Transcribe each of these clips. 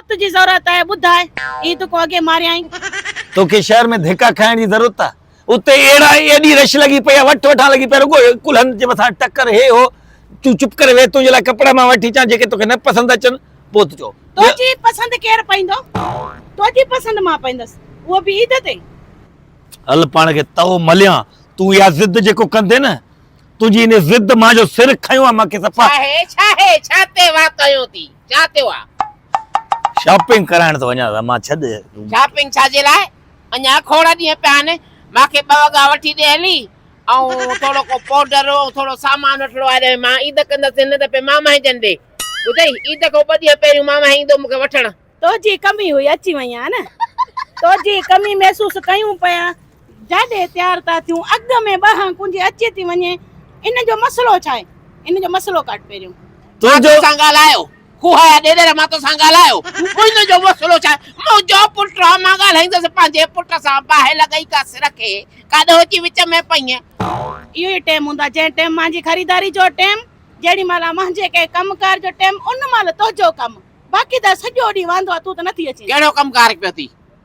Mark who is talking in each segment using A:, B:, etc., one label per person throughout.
A: وقت جي ضرورت آهي ٻڌاء اي دڪو اڳي ماريائين. توکي شهر
B: ۾ ڌڪا کائڻ جي ضرورت آ اتي اهڙا ايڏي رش لڳي پئي آ وٺ وٺان لڳي پئي رڳو ڪلهن جي مٿان ٽڪر هي هو تون چپ ڪري ويهه تنهنجي لاء ڪپڙا مان وٺي اچان جيڪي توکي نه پسند اچن پوء ته چئو. تنهنجي پسند
A: ڪير پائيندو تنهنجي پسند مان پائيندس اهو به عيد تي. هل
B: پاڻ کي تئو مليان تون اها ضد جيڪو ڪندين نه تنهنجي ان ضد مان جو سر کنيو آ مانکي صفا. ڇا هي ڇا هي ڇا تي
C: واهه ڪيو ٿي. ڇا ٿيو آ؟ شاپنگ
B: ڪرائڻ ٿو وڃان سا مان ڇڏ. شاپنگ ڇا جي
C: لاء؟ اڃان کوڙ ڏينهن پيا آهن. مان کي ٻه وڳا وٺي ڏي هلي. ۽ ٿورو ڪو پوڊر ۽ ٿورو سامان وٺڻو آهي ڏهي مان عيد ڪندس نه ته پي مامائي جن ڏي. ٻڌئي عيد کان ٻه ڏينهن پهريون مامائي ايندو مون کي وٺڻ. تنهنجي ڪمي هئي
A: اچي وئين ها نه. تنهنجي ڪمي محسوس ڪيون پيا جاڏي تيار ٿا ٿيون اڳ ۾ ٻهان ڪنجي اچي ٿي وڃي ان جو مسئلو ڇا آهي ان جو مسئلو ڪاٽ پهريون. مان تو سان
B: ڳالهايو
C: کوهايا ڏيڏر مان تو سان ڳالهايو ان جو مسئلو ڇا آهي منهنجو پٽ آ مان ڳالهائيندس پنهنجي پٽ سان باهه لڳئي ڪا سر کي ڪا ڏهه اچي وچ ۾ پئين. اهو ئي ٽيم
A: هوندو آهي جنهن ٽيم مانجي خريداري جو ٽيم جهڙي مهل مانجي ڪنهن ڪم ڪار جو ٽيم ان مهل تنهنجو ڪم باقي ته سڄو ڏينهن واندو آ تون ته نٿي اچين. ڪهڙو ڪم ڪار پيو ٿي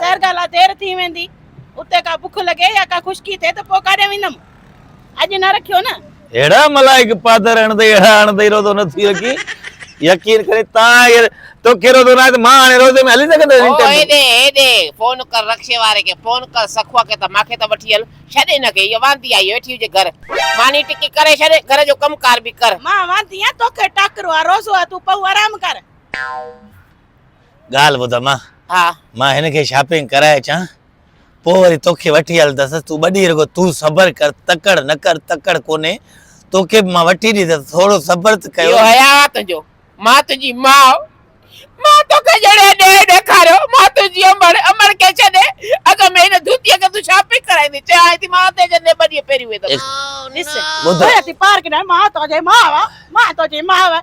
A: ظاهر ڳالهه آهي دير ٿي ويندي. اتي ڪا بک لڳي يا ڪا خشڪي ٿئي ته پوء ڪاڏي ويندم. اڄ نه رکيو نه. اهڙا ملائڪ
B: پادر اڻدئي اهڙا اڻدئي روزو نه ٿي رکين. يقين ڪرين تان اهي توکي روزو نه آهي ته مان هاڻي روزي ۾ هلي سگهندس انٽرويو. هو هيڏي هيڏي
C: فون ڪر رڪشي واري کي فون ڪر سخوء کي ته مان کي ته وٺي هل. ڇڏ هن کي هيء واندي آهي ويٺي هجي گهر. ماني ٽڪي ڪري ڇڏ گهر جو ڪم ڪار به ڪر. مان واندي آهيان توکي
A: ٽاڪرو آهي روزو آهي تون پئو آرام ڪر.
B: ڳالهه ٻڌ امان ها مان هن
C: کي شاپنگ
B: ڪرائي اچان پوء وري توکي وٺي هلندس تون ٻه ڏينهن رڳو تون صبر ڪر تڪڙ نه ڪر تڪڙ ڪونهي توکي به مان وٺي ڏيندس ٿورو صبر ته ڪيو اهو حياء آ تنهنجو
C: مان تنهنجي ماء مان توکي جهڙي انيائي ڏيکاريو مان تنهنجي امڙ امڙ کي ڇڏي اڳ ۾ هن ڌوتيء کي تون شاپنگ ڪرائيندي چيائين ٿي مان اتي جندي ٻه ڏينهن پهريون ويندس ڏس ٻڌ
A: ڀيا ٿي پارڪ ڏانهن مان تنهنجي ماء مان تنهنجي ماء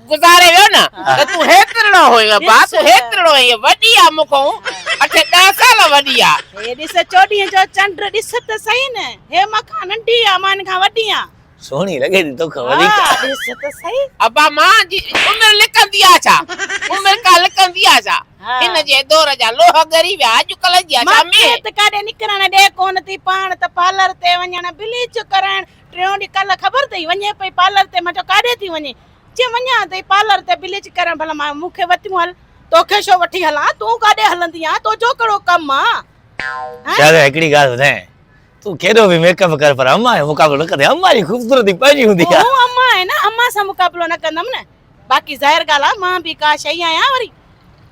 C: گذاري ويو نه ته تون هيترڙو هئين ابا تون هيترڙو هئين وڏي آ مون کان اٺ ڏهه سال وڏي آ. هي ڏس چوڏهينء
A: جو چنڊ ڏس ته سهي نه هي مان کان ننڍي آ مان هن کان وڏي آ. سهڻي لڳي ٿي
B: توکان وڌيڪ. ها ڏس
A: ته سهي. ابا مان جي
C: عمر لڪندي آ ڇا عمر ڪا لڪندي آ ڇا هن جي دور جا لوهه ڳري ويا اڄڪلهه جي آ ڇا مينهن. مانکي ته ڪاڏي نڪرڻ
A: ڏي ڪونه ٿي پاڻ ته پارلر تي وڃڻ بليچ ڪرائڻ ٽيون ڏينهن ڪل خبر اٿئي وڃي پئي پارلر تي مان چيو ڪاڏي ٿي وڃين جي وڃان تي پارلر تي بليچ ڪرڻ ڀلا مان مون کي وتيون هل توکي ڇو وٺي هلان تون ڪاڏي هلندي آهين توجو ڪهڙو ڪم آ شاهزاده
B: هڪڙي ڳالهه ٻڌاين تون ڪيڏو به ميڪ اپ ڪر پر امان جو مقابلو نه ڪندي امان جي خوبصورتي پنهنجي هوندي آ هو امان آهي نه امان
A: سان مقابلو نه ڪندم نه باقي ظاهر ڳالهه آ مان به ڪا شيء آهيان وري.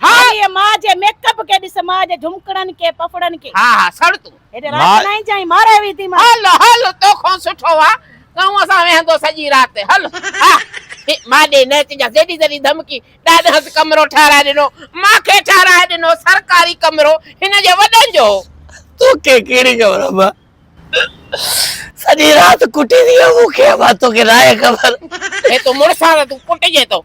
A: هاريء ماء
C: جي ميڪ
A: اپ کي ڏس، ماء جي جهمڪڙن کي، پڦڙن کي. ها ها سڙ تون. هيڏي
C: رات ماء. نائين جائين
A: مارئي وئي ٿي مان. هل هل توکون
C: سٺو آ ڪنوء سان ويهندو سڄي رات هل ها هي ماء ڏي نه اچجانس جيڏي تيڏي ڌمڪي ڏاڏهنس ڪمرو ٺهرائي ڏنو ماء کي ٺهرائي ڏنو سرڪاري ڪمرو هن جي وڏن جو هو. توکي
B: ڪهڙي خبر اما سڄي رات ڪٽيندي هئي مون کي اما توکي ناهي خبر. هي تون مڙس
C: آ ته تون ڪٽجين ٿو.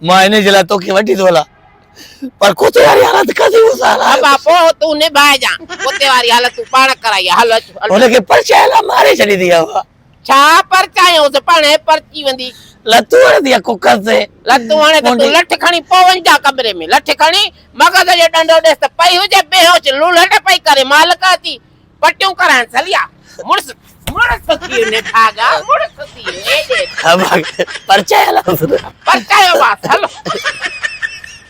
B: مان انهي جي لاء توکي وڍي ٿو هلان پر ڪتي واري حالت ڪڌي مون سان هلائي. ابا پوء
C: تون نباهه جان ڪتي واري حالت تون پاڻ ڪرائي هل اچ. هن کي پرچائي لا ماري
B: ڇڏيندي ابا. ڇا
C: پرچايونس پاڻ هي پرچي ويندي. لتون هڻندي آ
B: ڪڪر تي. لتون هڻي ته تون
C: لٺ کڻي پوء وڃ جان ڪمري ۾ لٺ کڻي مغز جو ڏنڊو ڏيس ته پئي هجي بيهوش لولهٽ پئي ڪري مالڪ اچي پٽيون ڪرائڻ سليا مڙس مڙس ٿيو نڀاڳا مڙس ٿيو ايڏي پرچايو
B: پرچايو
C: باس هلو